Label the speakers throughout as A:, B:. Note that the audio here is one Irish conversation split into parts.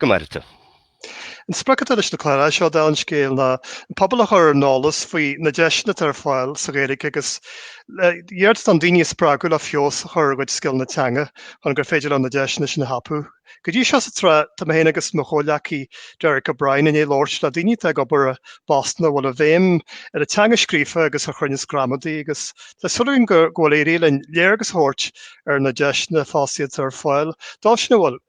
A: Go mairte. An sprioc atá leis na cláir seo dá bhun scéal ná an pobal a chur ar an eolas faoi na deiseanna atá ar fáil sa Ghaeilge agus le hiarracht daoine a spreagadh le feabhas a chur ar a gcuid scileanna teanga chun gur féidir leo na deiseanna sin a thapú. Go dtí seo sa tsraith, tá mé féin agus mo chomhghleacaí Derek O'Brien i ndiaidh labhairt le daoine atá ag obair i bpostanna a bhfuil a bhéim ar an teanga scríofa agus ar chruinneas gramadaí agus tá súil againn go bhfuil éirithe linn léargas a thabhairt ar na deiseanna fosta atá ar fáil dóibh sin a bhfuil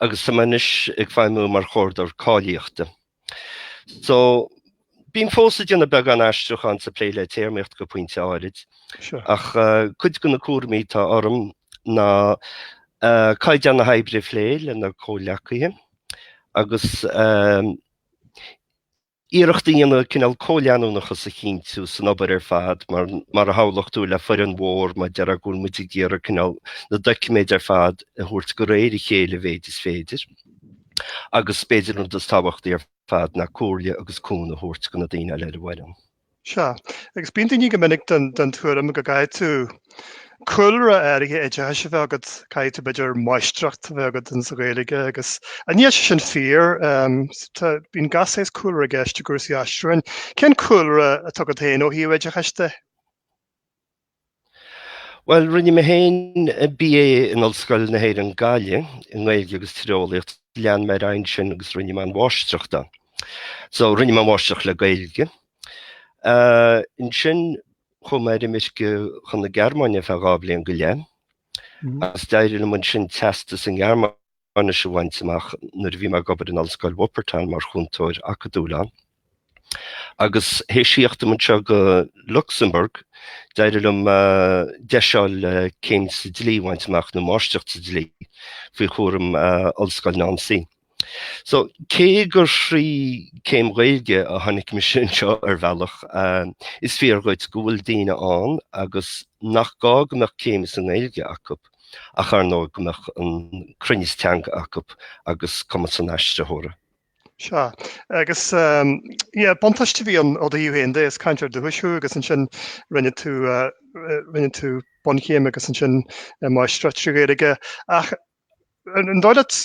A: agus tá mé anois ag feidhmiú mar Chomhordaitheoir Cáilíochta. So, bím fós ag déanamh beagán aistriúcháin is ag plé le téarmaíocht go pointe áirid, ach cuid de na cúraimí atá orm ná caighdeán na hoibre a phlé le na comhghleacaithe agus iarracht a dhéanamh cineál comhleanúnachas a chinntiú san obair ar fad mar, mar a shamhlófá, le foireann mhór mar atá go bhfuil muid ag iarraidh cineál na doiciméid ar fad a thabhairt go réir a chéile a mhéid is féidir agus b'fhéidir an rud is tábhachtaí ar fad ná comhairle agus cúnamh a thabhairt go na daoine eile ar an bhfoireann. Sea, agus bíonn daoine go minic den tuairim go gcaithfidh tú cúlra áirithe oideachais a bheith agat, caithfidh tú b'fhéidir máistreacht a bheith agat in sa Ghaeilge agus ah níl sé sin fíor, ehm, bíonn gach saghas cúlra i gceist i gcúrsaí aistriúcháin. Cén cúlra atá agat féin ó thaobh oideachais de? Bhuel, rinne mé féin BA in Ollscoil na hÉireann Gaillimh i nGaeilge agus Tíreolaíocht, lean mé ar aghaidh ansin agus rinne mé an mháistreacht ann. So rinne mé an mháistreacht le Gaeilge. Ansin chuaigh mé ar imirce chun na Gearmáine feadh dhá bhliain go leith, mm-hmm. agus d'éirigh liom ansin teastas sa nGearmáin nis a bhaint amach nuair a bhí mé ag obair in Ollscoil Wuppertal mar chúntóir acadúil ann. Agus th'éis thíocht dom anseo go Lucsamburg, d'éirigh liom DESS céim sa dlí a bhaint amach, nó máistreacht sa dlí, faoi chúram Ollscoil Nancy. So, cé gur thrí céim Ghaeilge a tháinig mise anseo, ar bhealach, is fíor dhuit go bhfuil daoine ann agus nach gá go mbeadh céim sa nGaeilge acu. ach ar ndóigh go mbeadh an cruinneas teanga acu agus cumas an aistritheora. Sea, agus eh, buntáiste a bhí ann ó do thaobh féin de, is cainteoir dúchais thú agus ansin rinne tú rinne tú bunchéim agus ansin máistreacht trí Ghaeilge ach an dóigh leat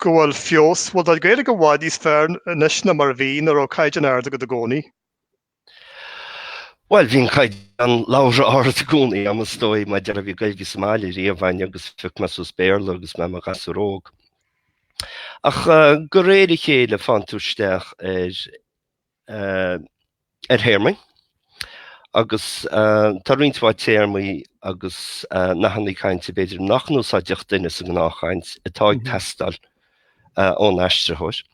A: go bhfuil feabhas, bhfuil do Ghaeilge i bhfad níos fearr anois ná mar a bhí nó an raibh caighdeán ard agat i gcónaí? Bhuel, bhí an caighdeán labhartha ard i gcónaí, ar ndóigh, mar ba í, an Ghaeilge sa mbaile riamh againn, agus phioc mé suas Béarla agus mé i mo ghasúr óg. Ach go réir a chéile téann tú isteach ar ar théarmaí agus tá roinnt mhaith téarmaí agus nathanna cainte b'fhéidir nach n-úsáidfeadh duine sa ngnáthchaint atá ag teastáil ón aistritheoir.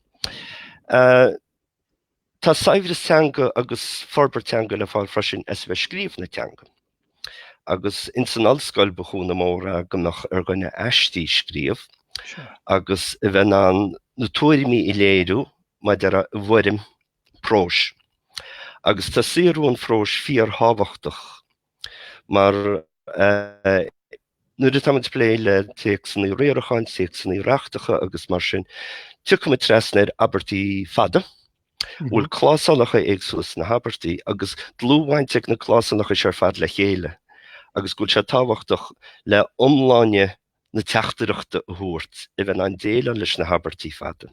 A: Tá saibhreas teanga agus forbairt teanga le fáil freisin as a bheith ag scríobh na teanga. Agus ins an ollscoil ba chúnamh mór é go mbeadh ar dhuine aistí a scríobh agus a bheith in ann na tuairimí a léiriú mar a déarfá i bhfoirm próis. Agus tá saothrú an phróis fíorthábhachtach. Mar nuair atáimid ag plé le téacsanna riaracháin, téacsanna reachtacha agus mar sin, tiocfaimid trasna ar abairtí fada a bhfuil clásálacha éagsúla sna habairtí agus dlúthbhaint ag na clásálacha seo ar fad le chéile agus go bhfuil sé tábhachtach le iomláine na teachtaireachta a thabhairt a bheith in ann déileáil leis na habairtí fada.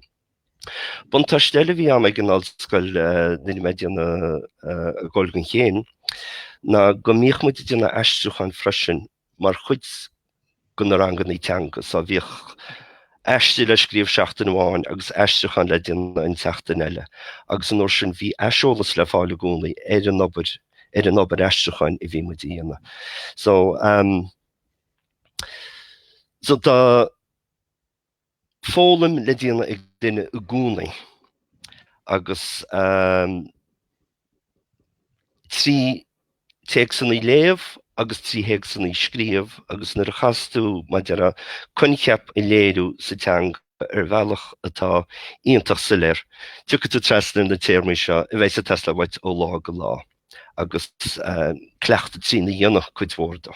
A: Buntáiste eile a bhí ann ag an ollscoil nuair a bhí mé ag déanamh Gaeilge don chéim ná go mbíodh muid ag déanamh aistriúcháin freisin mar chuid de na ranganna teanga, so bhíodh aistí le scríobh seachtain amháin agus aistriúchán le déanamh an tseachtain eile agus an uair sin bhí aiseolas le fáil i gcónaí ar an obair, ar an obair aistriúcháin a bhí muid a dhéanamh. So, so tá, foghlaim le déanamh ag duine i gcónaí agus trí théacsanna a léamh agus trí théacsanna a scríobh agus nuair a chaitheas tú mar a déarfá coincheap a léiriú sa teanga ar bhealach atá iontach soiléir tiocfaidh tú trasna ar na téarmaí seo a bheidh ag teastáil uait ó lá go lá agus cleachtadh trína dhéanamh cuid mhór de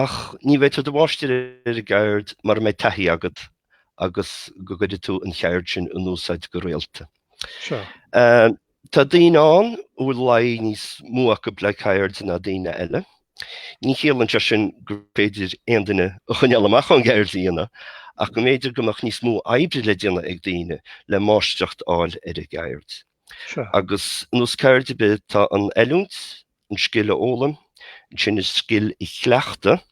A: Ach ní bheidh tú i do mháistir ar an gceird mura mbeidh taithí agat agus go gcuirfidh tú an cheird sin in úsáid go rialta. Tá daoine ann a bhfuil luí níos mó acu le ceird ná daoine eile. Ní chiallaíonn sé sin gur féidir aon duine a choinneáil amach ón gceird a dhéanamh ach go mb'fhéidir go mbeadh níos mó oibre le déanamh ag daoine le máistreacht a fháil ar an gceird. Agus ar nós ceird ar bith tá an oiliúint, an scil a fhoghlaim, ansin an scil a chleachtadh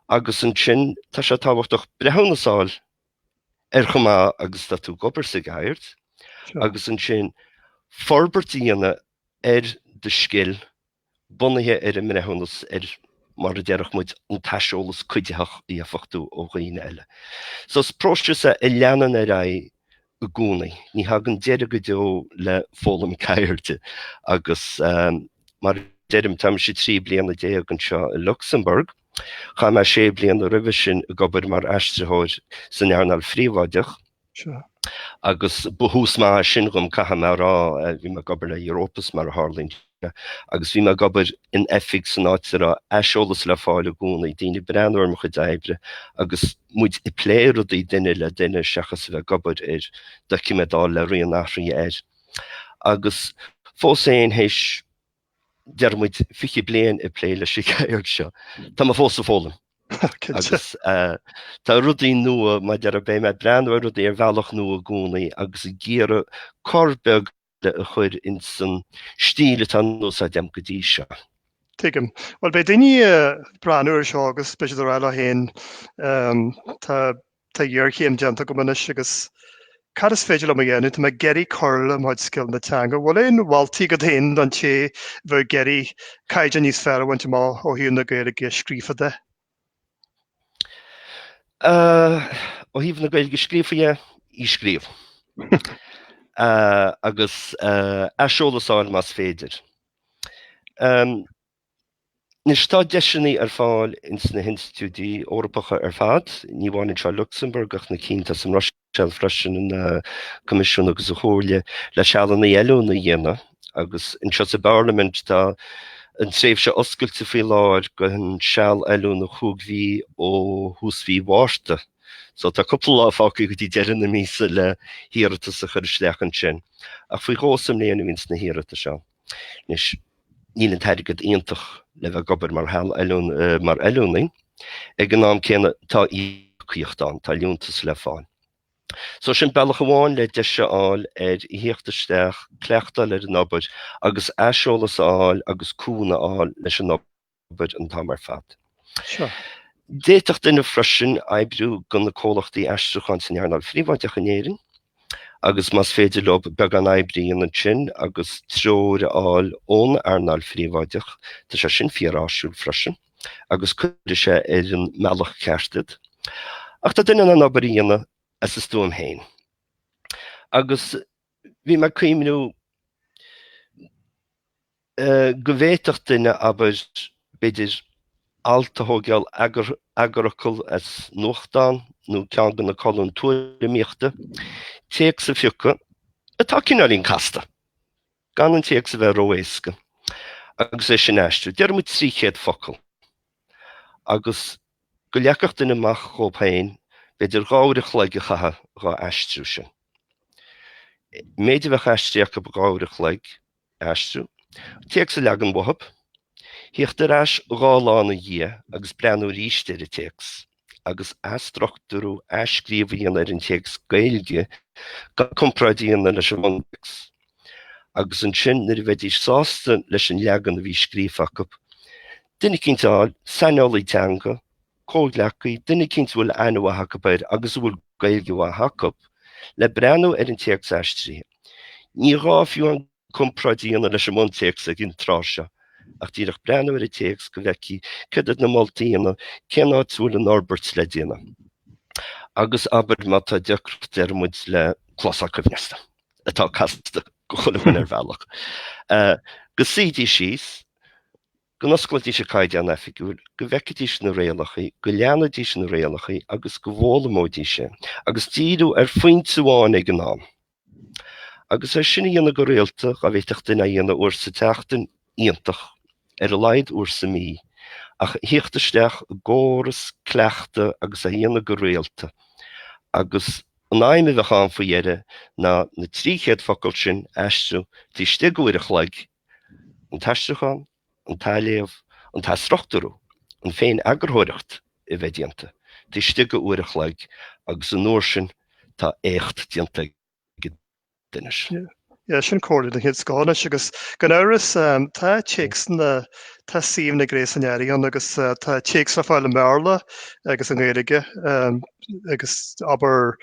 A: agus ansin tá sé tábhachtach breithiúnas a fháil ar chomh maith agus atá tú ag obair sa gceird agus ansin forbairt a dhéanamh ar do scil bunaithe ar an mbreithiúnas nó mar a déarfadh muid an t-aiseolas cuiditheach a gheofadh tú ó dhaoine eile. So is próiseas a leanann ar aghaidh i gcónaí. Ní thagann deireadh go deo le foghlaim ceirde agus mar a deirim, táimse trí bliana déag anseo i Lucsamburg. Chaith mé sé bliana roimhe sin ag obair mar aistritheoir san earnáil phríobháideach agus ba thús maith é sin dhom, caithfidh mé a rá. Bhí mé ag obair le Europus, mar a tharlaíonn Sea, agus bhí mé ag obair in oifig san áit a raibh aiseolas le fáil i gcónaí, daoine ag breathnú ar mo chuid oibre agus muid ag plé rudaí duine le duine seachas a bheith ag obair ar doiciméad le rian athraithe air. Agus fós féin, théis, déarfaidh muid, fiche bliain ag plé leis an gceird seo, tá mé fós ag foghlaim. agus uh, tá rudaí nua, déarfaidh mé, bím ag breathnú ar rudaí ar bhealach nua i gcónaí agus ag iarraidh cor beag a chur ins an stíl atá in úsáid a'm go dtí seo. Tuigim. Bhuel, beidh daoine a' breathnú ar seo agus beidh siad a' rá leo fhéin, tá, tá iarchéim déanta agam anois agus cad is féidir liom a dhéanamh, tá mé ag iarraidh cur le mo chuid scileanna teanga. Bhuel, aon mholtaí agat fhéin don té a bheadh ag iarraidh caighdeán níos fearr a bhaint amach ó thaobh na Gaeilge scríofa de? Ó thaobh na Gaeilge scríofa, í a scríobh. Agus aiseolas a fháil más féidir. Anois tá deiseanna ar fáil ins na hinstitiúidí Eorpacha ar fad, ní amháin anseo i Lucsamburg ach na cinn atá sa mBruiséil. Seal freisin an Coimisiún agus an Chomhairle le sealanna oiliúna a dhéanamh agus anseo sa bParlaimint tá an tréimhse oscailte faoi láthair gon seal oiliúna cúig mhí ó thús mhí Mhárta. So tá cúpla lá fágtha go dtí deireadh na míosa le hiarratas a chur isteach ansin. Ach faoi dhó sa mbliain a bhíonn na hiarratais ann. Anois, níl an t-airgead iontach le bheith ag obair mar oiliúnaí. Ag an am céanna, tá íocaíocht ann, tá liúntas le fáil. So, sin bealach amháin le deis a fháil ar thíocht isteach, cleachtáil ar an obair agus aiseolas a fháil agus cúnamh a fháil leis an obair. gcuid an t-am ar fad. Sure. D'fhéadfadh duine freisin oibriú gona comhlachtaí aistriúcháin san earnáil phríobháideach in Éirinn agus más féidir leo beagán oibre a dhéanamh ansin agus treoir a fháil ón earnáil phríobháideach, tá sé sin fíor áisiúil freisin agus cuirfidh sé ar an mbealach ceart iad. Ach tá duine in ann obair a dhéanamh as a stuaim féin. Agus bhí mé ag cuimhniú. go bhféadfadh duine, abair, b'fhéidir, alt a thógáil eagarfhocal as nuachtán nó ceann de na colúin tuairimíochta, téacs a phiocadh atá cineáilín casta, gan an téacs a bheith ró-éasca, agus é sin a aistriú, déarfaimid, trí chéad focal, agus go leagfadh duine amach dhóibh féin, b'fhéidir, dhá uair an chloig a chaitheamh dhá aistriú sin. An méid a bheadh aistrithe acu, dhá uair an chloig, aistriú téacs a leagan uathu, thíocht ar ais dhá lá ina dhiaidh agus breathnú arís ar an téacs, agus athstruchtúrú athscríobh a dhéanamh ar an téacs Gaeilge gan comparáid a dhéanamh leis an mbuntéacs. Agus ansin, nuair a bheidís sásta leis an leagan a bhí scríofa acu, duine eicínt a fháil, saineolaí teanga, comhghleacaí, duine eicínt a bhfuil aithne mhaith acu air agus a bhfuil Gaeilge mhaith acu, le breathnú ar an téacs aistrithe. Ní gá fiú an comparáid a dhéanamh leis an mbuntéacs ag an tráth seo, ach díreach breathnú ar an téacs go bhfeicfí céard iad na moltaí a dhéanamh, cén áit a bhfuil an fhorbairt le déanamh. Agus abair má tá deacracht, déarfaimid, le clásál coibhneasta, atá casta do chuile dhuine ar bhealach, go suídís síos, go n-osclóidís an Caighdeán Oifigiúil, go bhfeicfidís na rialachaí, go léifidís na rialachaí agus go bhfoghlaimeoidís é, agus díriú ar phointe amháin ag an am, agus é sin a dhéanamh go rialta, dhá bhféadfadh duine é a dhéanamh uair sa tseachtain, iontach, ar a laghad uair sa mí, ach a thíocht isteach i gcóras cleachtaidh agus é a dhéanamh go rialta, agus an aidhm a bheadh ann faoi dheireadh ná na trí chéad focal sin a aistriú taobh istigh de uair an chloig, an t-aistriúchán, an t-athléamh, an t-athstruchtúrú, an féin-eagarthóireacht a bheith déanta taobh istigh de uair an chloig agus an uair sin tá éacht déanta ag duine. Sea, sin comhairle den chéad scoth anois agus gan amhras tá téacsanna, tá suíomhanna gréasáin ar fáil agus tá téacs le fáil i mBéarla agus i nGaeilge agus abair,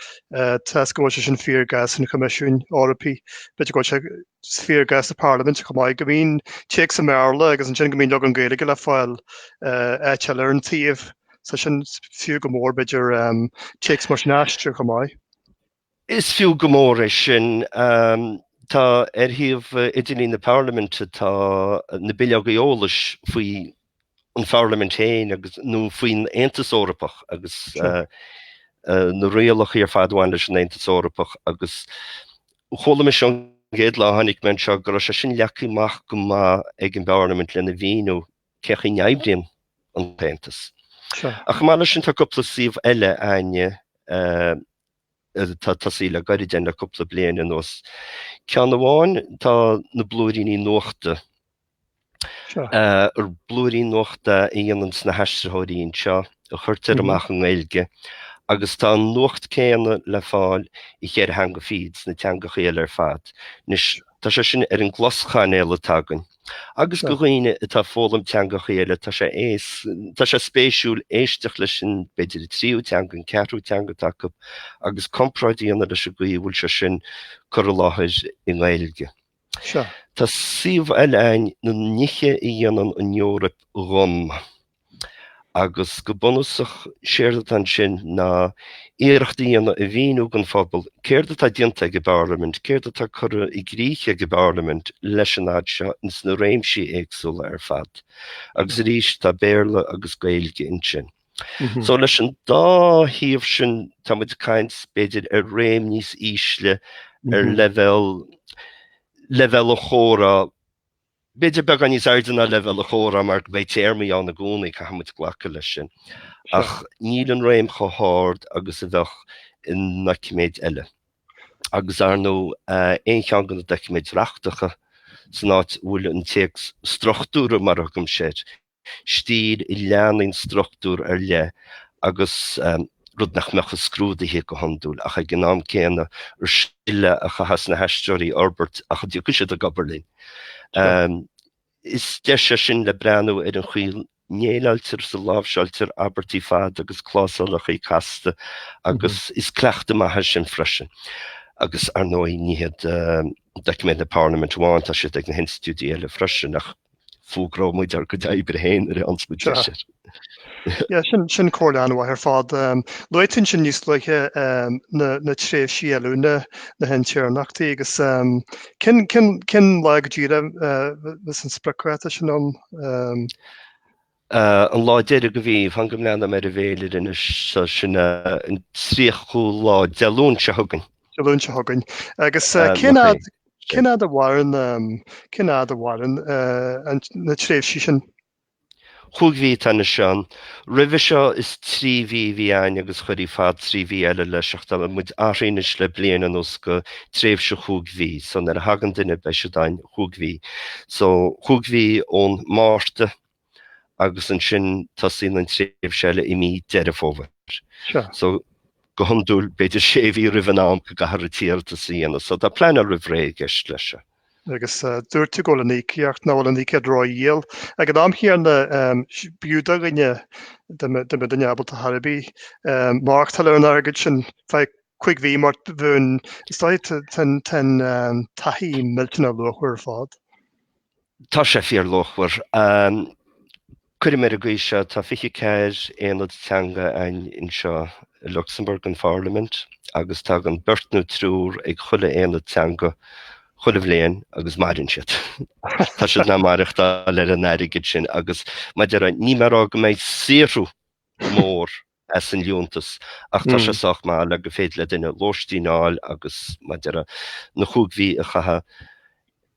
A: toisc go bhfuil sé sin fíor i gcás an Choimisiúin Eorpaigh, b'fhéidir go bhfuil sé, fíor i gcás na Parlaiminte chomh maith go mbíonn téacs i mBéarla agus ansin go mbíonn leagan Gaeilge le fáil áit éigin ar an suíomh so is fiú go mór b'fhéidir téacs mar sin a aistriú chomh maith. Is fiú go mór é sin. Tá ar shuíomh idirlín na Parlaiminte tá na bileoga eolais faoi an Pharlaimint féin agus, nó faoin Aontas Eorpach agus na rialachaí ar fad a bhaineann leis an Aontas Eorpach agus chuala mise an chéad lá a tháinig mé anseo go raibh sé sin leagtha amach go maith ag an bParlaimint lena mhíniú cén chaoi a n-oibríonn an tAontas. Ach chomh maith leis sin tá cúpla suíomh eile, Áine, atá tosaithe le gairid le cúpla bliain anuas. Ceann amháin, tá na blúiríní nuachta. Blúiríní nuachta a dhéanann na haistritheoirí anseo, a chuirtear amach i nGaeilge, agus tá an nuacht céanna le fáil i gceithre theanga fichead sna teangacha eile ar fad. Anois, tá sé sin ar an gcloschainéal atá againn. Agus do dhaoine atá ag foghlaim teangacha eile, tá sé aos, tá sé spéisiúil éisteacht leis sin, b'fhéidir an tríú teanga, an ceathrú teanga atá acu, agus comparáid a dhéanamh leis an gcaoi a bhfuil sé sin curtha i láthair i nGaeilge. Tá suíomh eile ann na nithe a dhéanann an Eoraip dhom. agus go bunúsach séard atá ansin ná iarracht a dhéanamh a mhíniú don phobal céard atá déanta ag an bParlaimint, céard atá curtha i gcrích ag an bParlaimint le fada seo sna réimsí éagsúla ar fad. Agus arís, tá Béarla agus Gaeilge ansin. So leis an dá shuíomh sin tá muid ag caint b'fhéidir ar réim níos ísle ar leibhéal, leibhéal an chomhrá. B'fhéidir beagán níos airde ná leibhéal an chomhrá mar go mbeidh téarmaí ann i gcónaí, caithfimid glacadh leis sin, ach níl an réim chomh hard agus a bheadh i ndoiciméid eile, agus ar ndóigh aon cheann de na doiciméid reachtacha san áit a bhfuil an téacs struchtúrtha mar a thugaimis air, stíl a leanann struchtúr ar leith agus, rud nach mbeadh i scrúduithe go hiondúil ach ag an am céanna, scil í a chaithfeas na haistritheoirí a fhorbairt má thiocfaidh siad ag obair linn. Is deis é sin le breathnú ar an chaoi a ndéileáiltear agus a láimhseáiltear abairtí fada agus clásálacha casta agus is cleachtadh maith é sin freisin. Agus, ar ndóigh, ní hiad doiciméid na Parlaiminte amháin, tá siad ag na hinstitiúidí eile freisin ach, fógróidh muid ár gcuid oibre féin ar a n-ionsmuid leis ar. Sin, sin comhairle an-mhaith ar fad. Luaigh tú ansin níos luaithe na tréimhsí oiliúna, na hintéirneachtaí agus cén, cén, cén lá go díreach a bheas an spriocdháta sin ann? An lá deiridh den mhí, fan go mbreathnóidh mé ar an bhféilire anois, so sin an tríochú lá Dé Luain seo chugainn. Dé Luain seo chugainn. Agus cén fhad, cén fhad a mhaireann, cén fhad a mhaireann na tréimhsí sin? Cúig mhí atá anois ann. Roimhe seo is trí mhí a bhí ann agus chuirfí fad trí mhí eile leis ach tá muid athraithe anois le bliain anuas go tréimhse chúig mhí. So nuair a thagann duine beidh siad ann cúig mhí. So cúig mhí ón Márta. agus ansin tosaíonn an tréimhse eile i mí Deireadh Fómhair. Sure. So, go hiondúil, b'fhéidir sé mhí roimh an am go gcaithfear an t-iarratas a dhéanamh. So, tá pleanáil roimh ré i gceist leis seo. Agus dúirt tú go bhfuil an íocaíocht, nach bhfuil an íocaíocht rófhial. Ag an am chéanna, b'fhiú do dhuine, dá mbeadh duine ábalta ar chor ar bith, maireachtáil ar an airgead sin ar feadh cúig mhí mar bhonn, is dóigh, tá an taithí millteanach luachmhar ar fad. Tá sé fíorluachmhar. Cuirim ar an gcaoi seo, tá fiche ceathair aonad teanga anseo i Lucsamburg, an pharlaimint, agus tagann beirt nó triúr ag chuile aonad teanga chuile bhliain agus maireann siad. Tá siad in ann maireachtáil ar an airgead sin agus, mar a déarfá, níl mé ag rá go mbeidh saothrú mór as an liúntas, ach tá sé sách maith le go féidir le duine lóistín a fháil agus, mar a déarfá, na chúig mhí a chaitheamh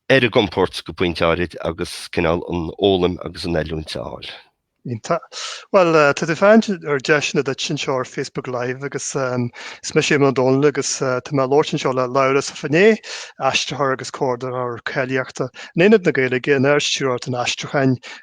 A: ar a gcompord go pointe áirid agus cineál an fhoghlaim agus an oiliúint a fháil. Tá. Bhuel, tá tú féin ar deiseanna duit anseo ar Facebook Live agus is mise Éamonn Ó Dónaill agus tá mé ag labhairt anseo le Labhrás Ó Finneadha, aistritheoir agus comhordaitheoir cáilíochta in Aonad na Gaeilge in Ard-Stiúrthóireacht an Aistriúcháin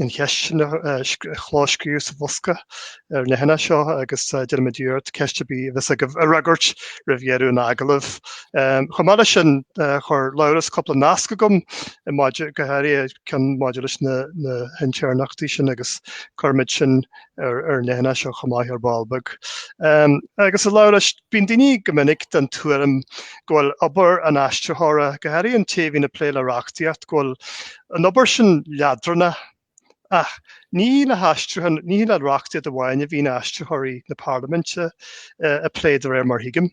A: an cheist a chlóscríobh sa bhosca ar an leathanach seo agus déanfaimid iarracht ceist ar bith a bheas agaibh a fhreagairt roimh dheireadh an agallaimh. Chomh maith leis sin, chuir Labhrás cúpla nasc chugam maidir, go háirithe ceann maidir leis na hintéirneachtaí sin agus cuirfimid sin ar an leathanach seo chomh maith ar ball beag. Agus a Labhráis, Bíonn daoine go minic den tuairim go bhfuil obair an aistritheora, go háirithe an té a bhíonn ag plé le reachtaíocht, go bhfuil an obair sin leadránach. Ach ní le haistriúchán, ní le reachtaíocht amháin a bhíonn aistritheoirí na Parlaiminte ag plé de réir mar thuigim.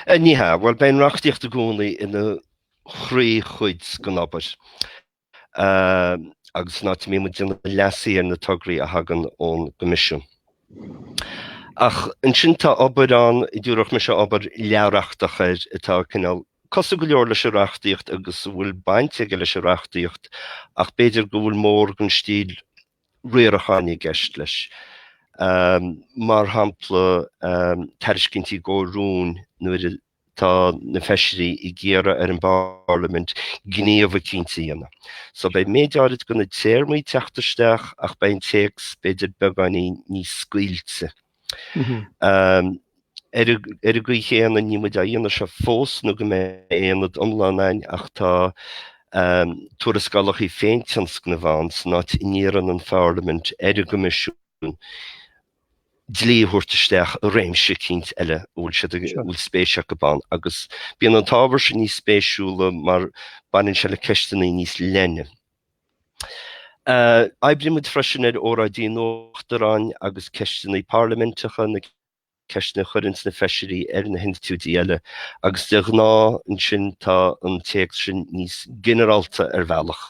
A: Ní hea, bhuel, bíonn reachtaíocht i gcónaí ina chroíchuid den obair. agus an áit a mbíonn muid ag déanamh leasuithe ar na tograí a thagann ón gCoimisiún. Ach ansin tá obair ann, a dtabharfadh mise obair leathreachtach air atá cineál cosúil go leor leis an reachtaíocht agus a bhfuil baint aige leis an reachtaíocht ach b'fhéidir go bhfuil mórán den stíl riaracháin i gceist leis. Mar shampla, tairiscintí i gcomhair rúin nuair a tá na feisirí ag iarraidh ar an bParlaimint gníomh eicínt a dhéanamh. So beidh méid áirid de na téarmaí ag teacht isteach ach beidh an téacs b'fhéidir beagáinín níos scaoilte. Ar an gcaoi chéanna níl muid á dhéanamh seo fós nó go mbeidh aonad iomlán ann ach tá tuarascálacha féintionscnaimh ann san áit a n-iarrann an Pharlaimint ar an gCoimisiún dlí a thabhairt isteach i réimse eicínt eile a bhfuil siad ag, a bhfuil spéis acu ann, agus bíonn an t-ábhar sin níos spéisiúla mar baineann sé le ceisteanna níos leithne. Oibrímid freisin ar óráidí an Uachtaráin agus ceisteanna parlaiminteacha, na ceisteanna a chuireann na feisirí ar na hinstitiúidí eile, agus de ghnáth ansin tá an téacs sin níos ginearálta ar bhealach.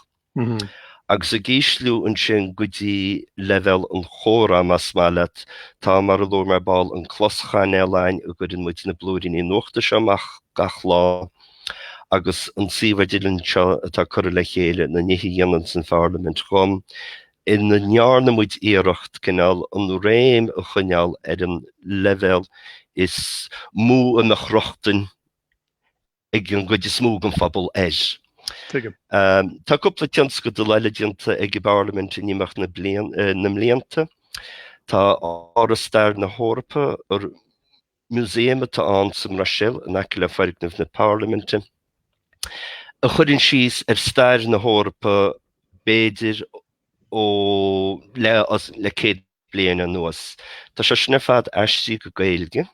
A: agus ag ísliú ansin go dtí leibhéal an chomhrá, más maith leat. Tá, mar a luaigh mé ar ball, an closchainéal againn a gcuireann muid na blúiríní nuachta seo amach gach lá, agus an suíomh idirlín seo atá curtha le chéile na nithe a dhéanann an Pharlaimint dhom, ina ndearna muid iarracht cineál an réim a choinneáil ar an leibhéal is mó a mbeadh rochtain ag an gcuid is mó den phobal air. Tuigim. Tá cúpla tionscadal eile déanta ag an bParlaimint in imeacht na mblianta. Tá Áras Stair na hEorpa, ar músaem atá ann sa mBruiséil in aice le foirgneamh na Parlaiminte, a chuireann síos ar stair na hEorpa b'fhéidir le le 100 bliain anuas. Tá sé sin ar fad aistrithe go Gaeilge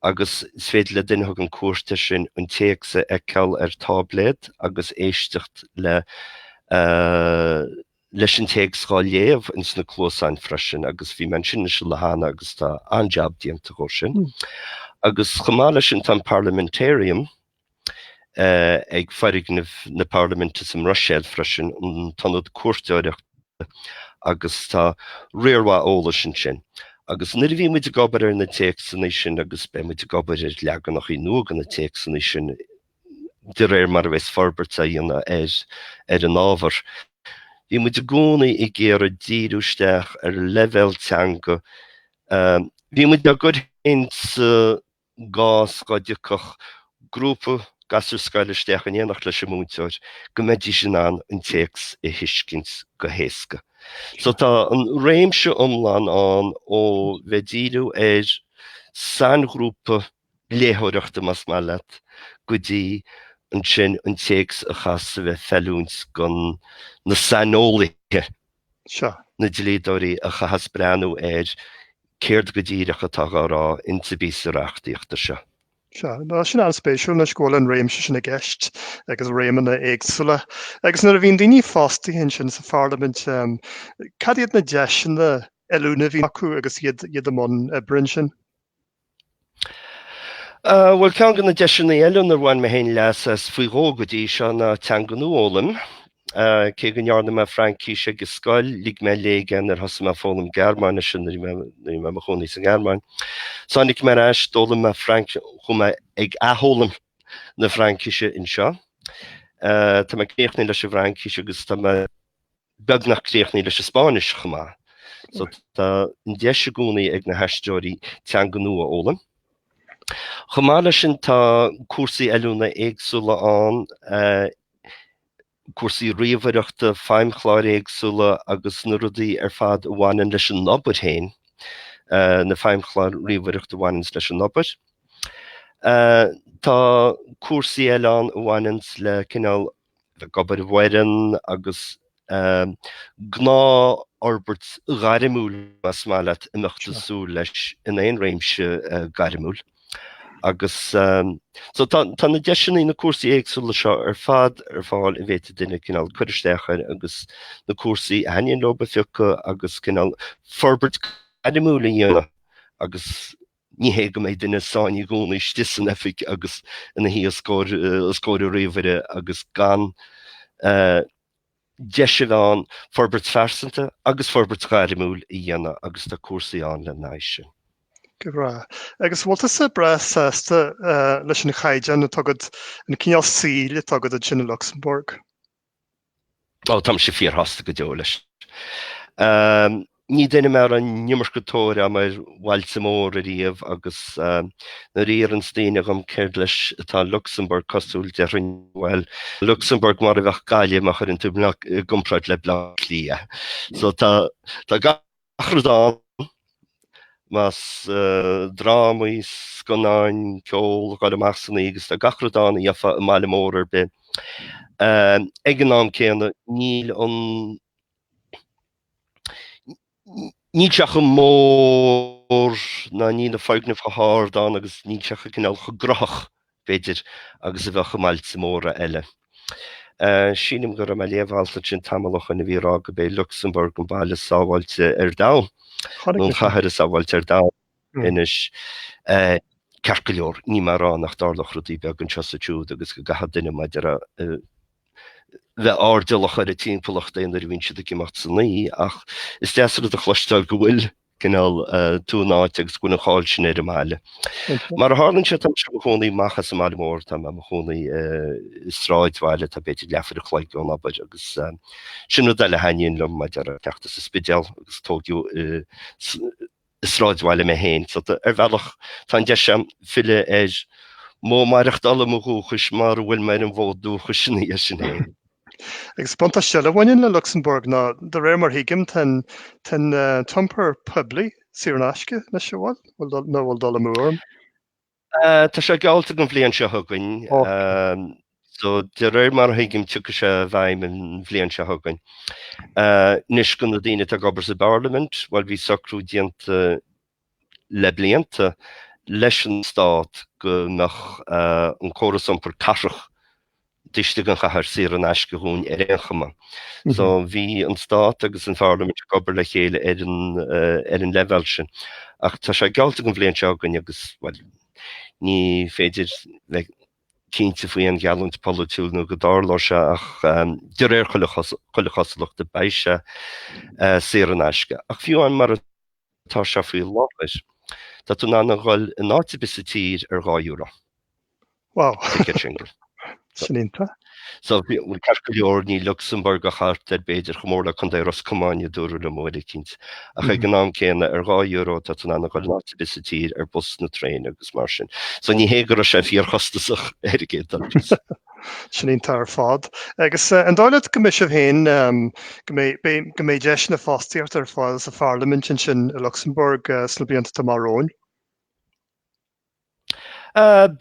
A: agus is féidir le duine a thugann cuairt air sin an téacs a fheiceáil ar táibléad agus éisteacht leis an téacs dhá léamh ins na cluasáin freisin agus bhí mé ansin anois le gairid agus tá an-jab déanta dhó sin. Agus chomh maith leis sin tá an Parlamentarium, ag foirgneamh na Parlaiminte sa mBruiséil freisin, an tIonad Cuairteoireachta, agus tá riar mhaith eolais ansin. Agus nuair a bhí muid ag obair ar na téacsanna sin, agus beidh muid ag obair ar leaganacha nua de na téacsanna sin de réir mar a bheas forbairt á dhéanamh ar an ábhar, bhí muid i gcónaí ag iarraidh díriú isteach ar leibhéal teanga. Bhí muid á gcur féin sa. gcás go dtiocfadh grúpa gasúr scoile isteach in éineacht leis an múinteoir, go mbeidís in ann an téacs a thuiscint go héasca. So tá an réimse iomlán ann ó bheith ag díriú ar sainghrúpa léitheoireachta, más maith leat, go dtí ansin an téacs a chaitheas a bheith ag feiliúint do na saineolaithe seo, na dlíodóirí a chaitheas breathnú ar céard go díreach atá dhá rá ins an bpíosa reachtaíochta seo. Sea. Tá sin an-spéisiúil anois go bhfuil an réimse sin i gceist agus réimeanna éagsúla. Agus nuair a bhíonn daoine fostaithe ansin sa Pharlaimint, cad iad na deiseanna oiliúna a bhíonn acu agus iad i mbun oibre ansin? Bhuel, ceann de na deiseanna eile inar bhain mé féin leas as faoi dhó go dtí seo ná teanga nua a fhoghlaim. Cé go ndearna mé Fraincis ag scoil, lig mé i léig í nuair a thosaigh mé ag foghlaim Gearmáinise nuair a bhí mé i mo chónaí sa nGearmáin. So tháinig mé ar ais, d'fhoghlaim mé Fraincis, chuaigh mé ag athfhoghlaim na Fraincise anseo. Tá mé críochnaithe leis an bhFraincis agus tá mé beagnach críochnaithe leis an Spáinnis chomh maith. So tá an deis i gcónaí ag na haistritheoirí teanga nua a fhoghlaim. Chomh maith leis sin tá cúrsaí oiliúna éagsúla ann, cúrsaí ríomhaireachta, feidhmchláir éagsúla agus na rudaí ar fad a bhaineann leis an obair féin, na feidhmchláir ríomhaireachta a bhaineanns leis an obair. Tá cúrsaí eile ann a bhaineanns le cineál ag obair i bhfoireann agus gnáthfhorbairt ghairmiúil mar a mbeadh muid ag súil leis in aon réimse gairmiúil agus so tá na deiseanna, na cúrsaí éagsúla seo ar fad ar fáil a bhféadfaidh duine cineál cur isteach air agus na cúrsaí a thaitníonn leob a phiocadh agus cineál forbairt ghairmiúil a dhéanamh agus Ní hé go mbeidh duine sáinnithe i gcónaí istigh san oifig agus ina shuí os comhair a ríomhaire agus gan deis a bheith ann forbairt phearsanta agus forbairt ghairmiúil a dhéanamh agus tá cúrsaí ann lena aghaidh sin. Go breá. Agus bhfuil tusa breá sásta leis an gcaighdeán atá agat, an cineál saoil atá agat ansin i Lucsamburg? Ó, tá mise fíorshásta go deo leis. Ní duine mé a raibh an iomarca tóir a'm ar bhailte móra ariamh agus nuair a fhiafraíonns daoine dhom céard leis atá Lucsamburg cosúil déarfainn, bhuel, Lucsamburg mar a bheadh Gaillimh má chuireann tú i gcomparáid le Bleá Cliath. So, tá gach 'ach rud ann, más drámaí, scannáin, ceol, goil amach san oíche agus tá gach rud ann a gheofá i mbaile mór ar bith. Ag an am céanna, níl an, níl sé chomh mór ná níl na foirgnimh chomh hard ann agus níl sé chomh cineál chomh gnóthach b'fhéidir, agus a bheadh i mbailte móra eile. Sílim go raibh mé ag léamh alt ansin tamall ó shoin a bhí ag rá go b'é Lucsamburg an baile is sábháilte ar domhan, nó an chathair is sábháilte ar domhan. Anois, ceart go leor, níl mé ag rá nach dtarlódh rudaí beaga anseo is ansiúd agus go gcaithfeadh duine b'fhéidir a bheith airdeallach ar an timpeallacht aon uair a bhíonn siad ag imeacht san oíche ach is deas rud a chloisteáil go bhfuil cineál tú in áit agus go mbíonn an cháil sin ar an mbaile. Mar a tharlaíonn sé tá mise i mo chónaí amach as an mbaile mór tá mé i mo chónaí i sráidbhaile atá b'fhéidir leathuair an chloig ón obair agus sin rud eile a thaitníonn liom mar a déarfá teacht as an Spidéal agus tógadh i sráidbhaile mé féin so tá ar bhealach tá an deis agam filleadh ar mhodh maireachtála mo dhúchais mara bhfuil mé ar an bhfód dúchais ina dhiaidh sin féin. Agus is buntáiste eile a bhaineann le Lucsamburg ná, de réir mar a thuigim, tá an t-iompar poiblí saor in aisce anois, a' bhfuil? Nó a' bhfuil dul amú orm? Tá sé geallta don bhliain seo chugainn. So, de réir mar a thuigim, tiocfaidh sé i bhfeidhm an bhliain seo chugainn. Anois, do na daoine atá ag obair sa bParlaimint, bhuel, bhí socrú déanta le blianta leis an Stát go mbeadh an córas iompair cathrach taobh istigh den chathair saor in aisce dhúinn ar aon chuma. So bhí an Stát agus an Pharlaimint ag obair le chéile ar an, ar an leibheál sin. Ach tá sé geallta an bhliain seo chugainn agus, bhuel, ní féidir bheith cinnte faoi aon gheallúint pholaitiúil nó go dtarlóidh sé ach de réir chuile chosúlachta beidh sé saor in aisce. Ach fiú amháin mar a Tá sé faoi láthair. Tá tú in ann a dhul in áit ar bith sa tír ar dhá euro. Wow. Ticket single. Sin iontach. So, bhuel, ceart go leor níl Lucsamburg ach thart ar b'fhéidir chomh mór le Contae Ros Comáin, a dúradh liom uair éicint. Ach ag an am céanna, ar dhá euro, tá tú in ann a dhul in áit ar bith sa tír ar bus, nó traein agus mar sin. So, ní hé go raibh sé fíorchostasach ar an gcéad dul síos. Sin iontach ar fad. Agus an dóigh leat go mbeidh sibh féin, go mbeidh, beidh, go mbeidh deiseanna fostaíochta ar fáil sa Pharlaimint ansin i Lucsamburg sna blianta atá amach romhainn?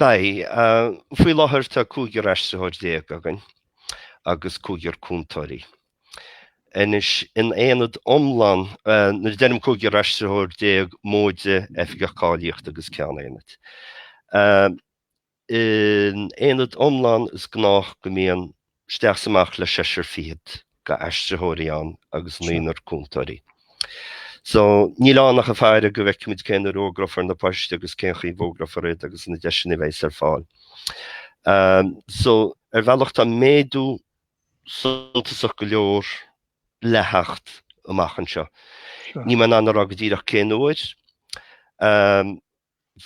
A: Beidh. Faoi láthair tá cúigear aistritheoir déag againn agus cúigear cúntóirí. Anois, in aonad iomlán, nuair a deirim cúigear aistritheoir déag, móide, oifigeach cáilíochta agus ceann aonaid, In aonad iomlán is gnách go mbíonn isteach is amach le seisear fichead d'aistritheoirí ann agus naonúr cúntóirí. So, níl ann ach ag faire go bhfeicfimid cén uair a fhógrófar na poist agus cén chaoi a bhfógrófar iad agus na deiseanna a bheas ar fáil. So, ar bhealach tá méadú suntasach go leor le theacht amach anseo. Níl mé in ann a rá go díreach cén uair.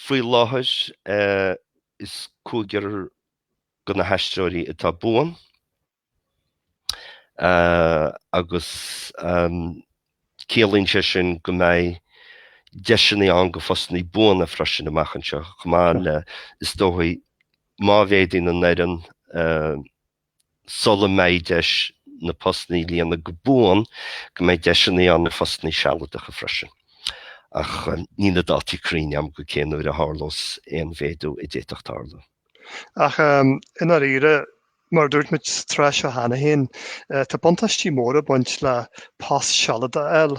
A: Faoi láthair, is cúigear de na haistritheoirí atá buan agus ciallaíonn sé sin go mbeidh deiseanna ann do phostanna buana freisin amach anseo chomh maith le, is dóigh, má mhéadaíonn an fhoireann, sula mbeidh deis na postanna a líonadh go buan, go mbeidh deiseanna ann ar phostanna sealadacha freisin, ach níl na dátaí cruinn agam go cé nuair a tharlós aon mhéadú a d'fhéadfadh tarlú. Ach i ndáiríre, mar a dúirt muid sa gcomhrá seo cheana féin, tá buntáistí móra ag baint le post sealadach a fháil.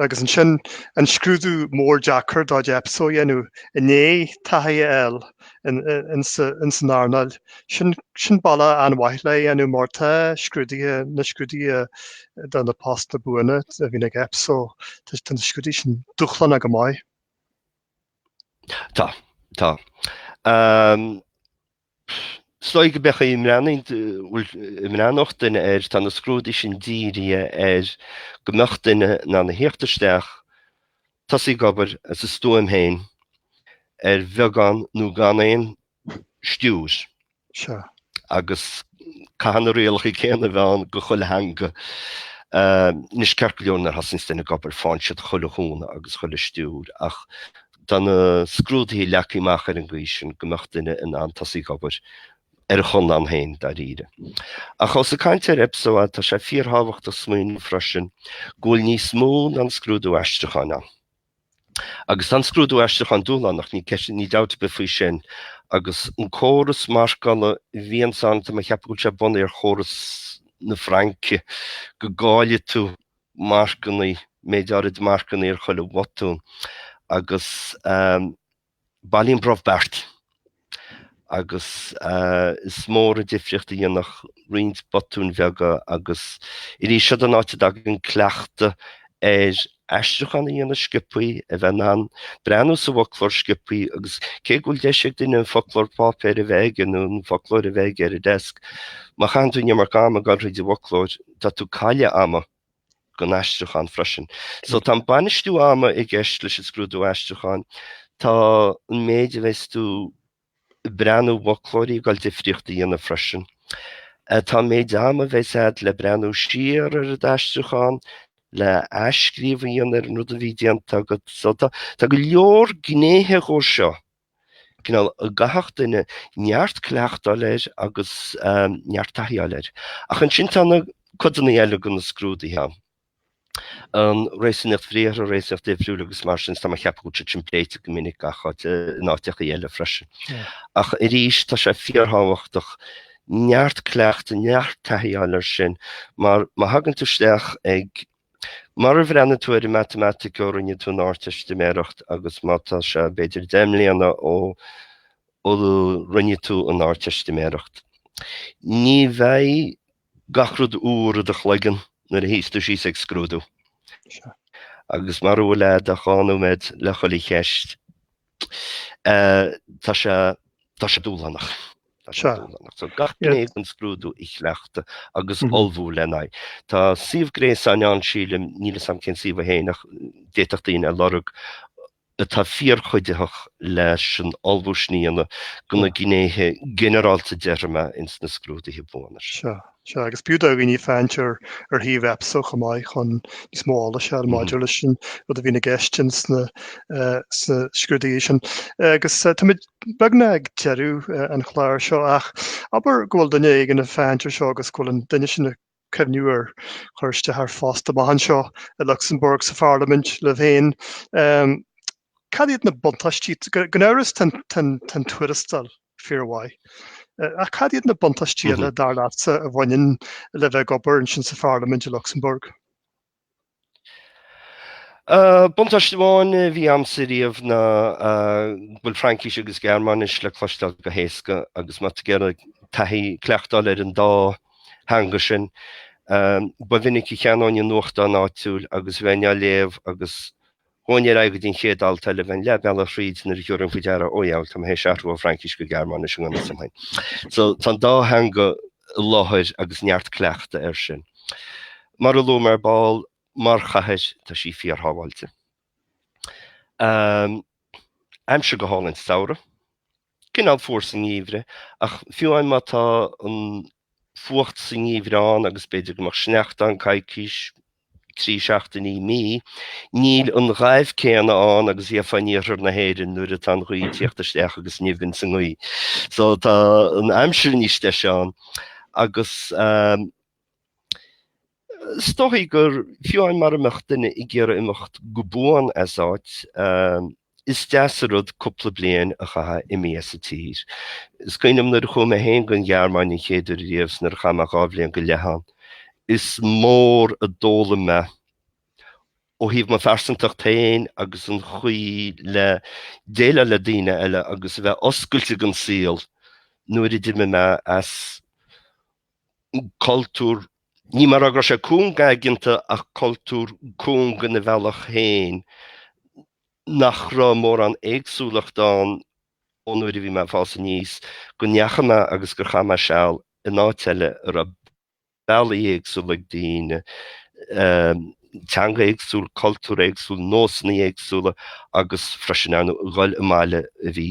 A: Agus ansin an scrúdú mór deacair de chuid Epso a dhéanamh, i ndiaidh taithí a fháil, ins an earnáil. Sin bealach an-mhaith lena dhéanamh mar tá scrúduithe, na scrúduithe do na postanna buana a bhíonn ag Epso, tá na scrúduithe sin dúshlánach go maith. Tá, tá. Is dóigh go mbeadh, dá mbreathnódh duine air, tá na scrúduithe sin dírithe ar go mbeadh duine in ann a theacht isteach Tosaí ag obair as a stuaim féin, ar bheagán nó gan aon stiúir. Sea. Agus caithfidh na rialacha céanna a bheith ann go chuile dhuine. Anois, ceart go leor nuair a thosaíonns duine ag obair, faigheann siad chuile chúnamh agus chuile stiúir, ach tá na scrúduithe leagtha amach ar an gcaoi sin go mbeadh duine in ann tosaí ag obair ar a chonlán féin, dáiríre. Ach os ag caint ar Epso é, tá sé fíorthábhachtach smaoineamh freisin go bhfuil níos mó ná an scrúdú aistriúcháin ann. Agus tá an scrúdú aistriúcháin dúshlánach, níl ceist, níl dabht ar bith faoi sin, agus an córas marcála a bhíonns ann, tá mé ag ceapadh go bhfuil sé bunaithe ar chóras na Fraince, go gcailleann tú marcanna, méid áirid marcanna ar chuile bhotún agus. Bailíonn brobh beart, agus is mór an difríocht a dhéanfadh roinnt botúin bheaga agus arís seod an áit a dtagann cleachtadh ar aistriúchán a dhéanamh sciopthaí, a bheith in ann breathnú sa bhfoclóir sciopthaí agus cé go bhfuil deis ag duine an foclóir páipéir a bheith aige nó an foclóir a bheith aige ar an desk, má chaitheann tú an iomarca ama ag dul thríd an bhfoclóir, tá tú ag cailleadh ama. don aistriúchán freisin. So tá an bainistiú ama i gceist leis an scrúdú aistriúcháin. Tá an méid a bheas tú ag breathnú i bhfoclóirí ag dul difríocht a dhéanamh freisin. Tá an méid ama a bheas a'd le breathnú siar ar an aistriúchán, le athscríobh a dhéanamh ar an rud a bhí déanta agat. So tá go leor gnéithe go dtír sa cineál a gcaithfeadh duine neart cleachta a fháil air agus neart taithí a fháil air. Ach ansin tá na codanna eile de na scrúduithe ann. An réasúnaíocht bhriathartha, an réasúnaíocht uimhriúil agus mar sin tá mé ag ceapadh go bhfuil siad sin pléite go minic in áiteacha eile freisin. Ach arís tá sé fíorthábhachtach neart cleachta neart taithí a fháil air sin mar má thagann tú isteach ag Mara bhreathnaigh tú ar an matamaitic ó rinne tú an Ardteistiméireacht agus má tá sé b'fhéidir deich mbliana ó rinne tú an Ardteistiméireacht, ní bheidh gach rud úr in do chloigeann nuair a shuíos tú síos ag scrúdú. Agus mara bhfuil agat ach dhá nóiméad le chuile cheist. Tá sé tá sé dúshlánach. Tá sé dúshlánach. So gach gné den scrúdú a chleachtadh agus ullmhú lena aghaidh. Tá suíomh gréasáin ann sílim, níl 'fhios a'm cén suíomh é féin ach d'fhéadfadh daoine a lorg, atá fíorchuiditheach leis an ullmhú le haghaidh na gnéithe ginearálta déarfainn ins na scrúduithe buana seo. Sea, agus b'fhiú do dhaoine féachaint ar shuíomh Epso chomh maith chun níos mó eolais a fháil maidir leis an rud a bhíonn i gceist sna scrúduithe sin. Agus táimid beagnach ag deireadh an chláir seo ach abair go bhfuil duine éigin ag féachaint ar seo agus go bhfuil an duine sin ag cuimhniú ar chur isteach ar phost amach anseo i Lucsamburg sa Pharlaimint libh féin. Cad iad na buntáistí? Gan amhras tá an tuarastal Fíor mhaith. Ach cad iad na buntáistí eile, dar leatsa, a bhaineann le bheith ag obair ansin sa Pharlaimint i Lucsamburg? Buntáiste amháin a bhí a'msa riamh ná go bhfuil Fraincis agus Gearmáinis le cloisteáil go héasca agus má tá tú ag iarraidh taithí cleachtáil ar an dá theanga sin, ba mhinic a cheannaínn an nuachtán áitiúil agus bhínn á léamh agus Théinn ar aghaidh go dtí an chéad alt eile, bhínn leath bealaigh thríd nuair a thiúrfainn faoi deara, ó i ngeall tá mé théis athrach ó Fraincis go Gearmáinis i ngan fhios dom féin. So tá an dá theanga i láthair agus neart cleachta air sin. Mar a luaigh mé ar ball, mar chathair, tá sí fíorshábháilte. Um, aimsir go hálainn sa samhradh, cineál fuar sa ngeimhreadh, ach fiú amháin má tá an fuacht sa ngeimhreadh ann agus b'fhéidir go mbeadh sneachta ann coicís, trí seachtainí, mí, níl an ghoimh céanna ann agus a bheifeá in iarthar na hÉireann nuair atá an ghaoth ag teacht isteach agus nimh ins an ngaoth. So tá an aimsir níos deise ann agus is dóigh gur fiú amháin mara mbeadh duine ag iarraidh imeacht go buan as áit Is deas an rud cúpla bliain a chaitheamh imithe as an tír. Is cuimhin liom nuair a chuaigh mé féin gon Ghearmáin an chéad uair riamh 's nuair a chaith mé dhá bhliain go leith ann, is mór a d'fhoghlaim mé ó thaobh mo phearsantacht féin agus an chaoi le déileáil le daoine eile agus a bheith oscailte gon saol nuair a d'imigh mé as cultúr, ní mar go raibh sé cúng aigeanta ach cultúr cúng ina bhealach féin, nach raibh mórán éagsúlacht ann ón uair a bhí mé ag fás aníos, go ndeachaigh mé agus gur chaith mé seal in áit eile a raibh bealaí éagsúla ag daoine. teanga éagsúil, cultúr éagsúil, nósanna éagsúla agus freisin in ann a dhul i mbaile a bhí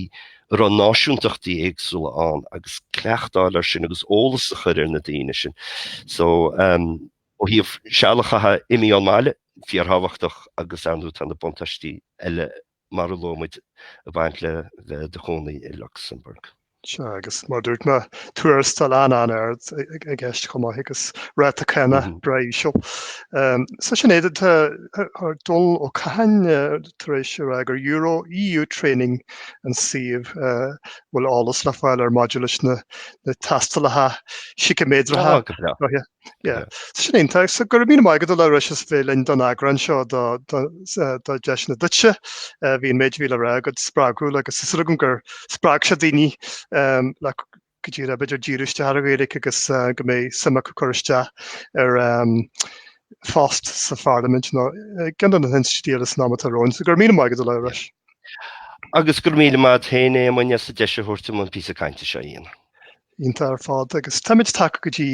A: a raibh náisiúntachtaí éagsúla ann agus cleachtáil air sin agus eolas a chur ar na daoine sin. So ó thaobh seal a chaitheamh imithe ón mbaile, fíorthábhachtach agus ar ndóigh tá na buntáistí eile mar a luaigh muid, ag baint le bheith i do chónaí i Lucsamburg. Sea, agus mar a dúirt mé, tuarastal an-ard i gceist chomh maith agus ráta cánach breá íseal. So sin é, tá Dónall Ó Catháin tar éis a rá gur euro, EU training an suíomh a bhfuil eolas le fáil air maidir leis na tástálacha síciméadracha. Go breá. Sin iontach. So go raibh míle maith agat a Labhráis as bheith linn don eagrán seo do Deiseanna Duitse. Bhí an méid a bhí le rá agat spreagúil agus tá súil agam gur spreag sé daoine le go díreach b'fhéidir díriú isteach ar an Ghaeilge agus go mbeidh suim acu cur isteach ar phost sa Pharlaimint nó i gceann de na hinstitiúidí eile san am atá romhainn. So go raibh míle maith agat a Labhráis. Agus go raibh míle maith agat féin a Éamoinn as an deis a thabhairt dom an píosa cainte seo a dhéanamh. Iontach ar fad agus táimid tagtha go dtí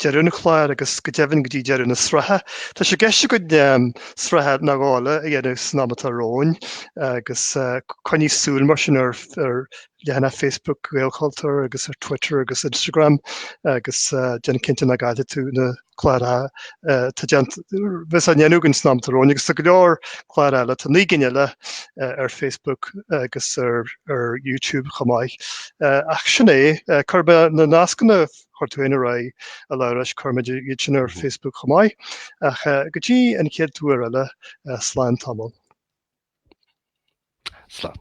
A: deireadh an chláir agus go deimhin go dtí deireadh na sraithe. Tá sé gceist againn sraitheanna eile a dhéanamh san am atá romhainn agus coinnigh súil mar sin ar leathanach Facebook Ghaelchultúir agus ar Twitter agus Instagram agus déan cinnte nach gcaillfidh tú na cláracha atá dé a bheas á ndéanamh againn san am atá romhainn, agus tá go leor clár eile, tá 9 gcinn eile ar Facebook agus ar YouTube chomh maith. Ach sin é, cuirfidh mé na nascanna a chuir tú fhéin ar aghaidh, a Labhráis, cuirfimid iad sin ar Facebook chomh maith. Ach go dtí an chéad uair eile, slán tamall. Slán.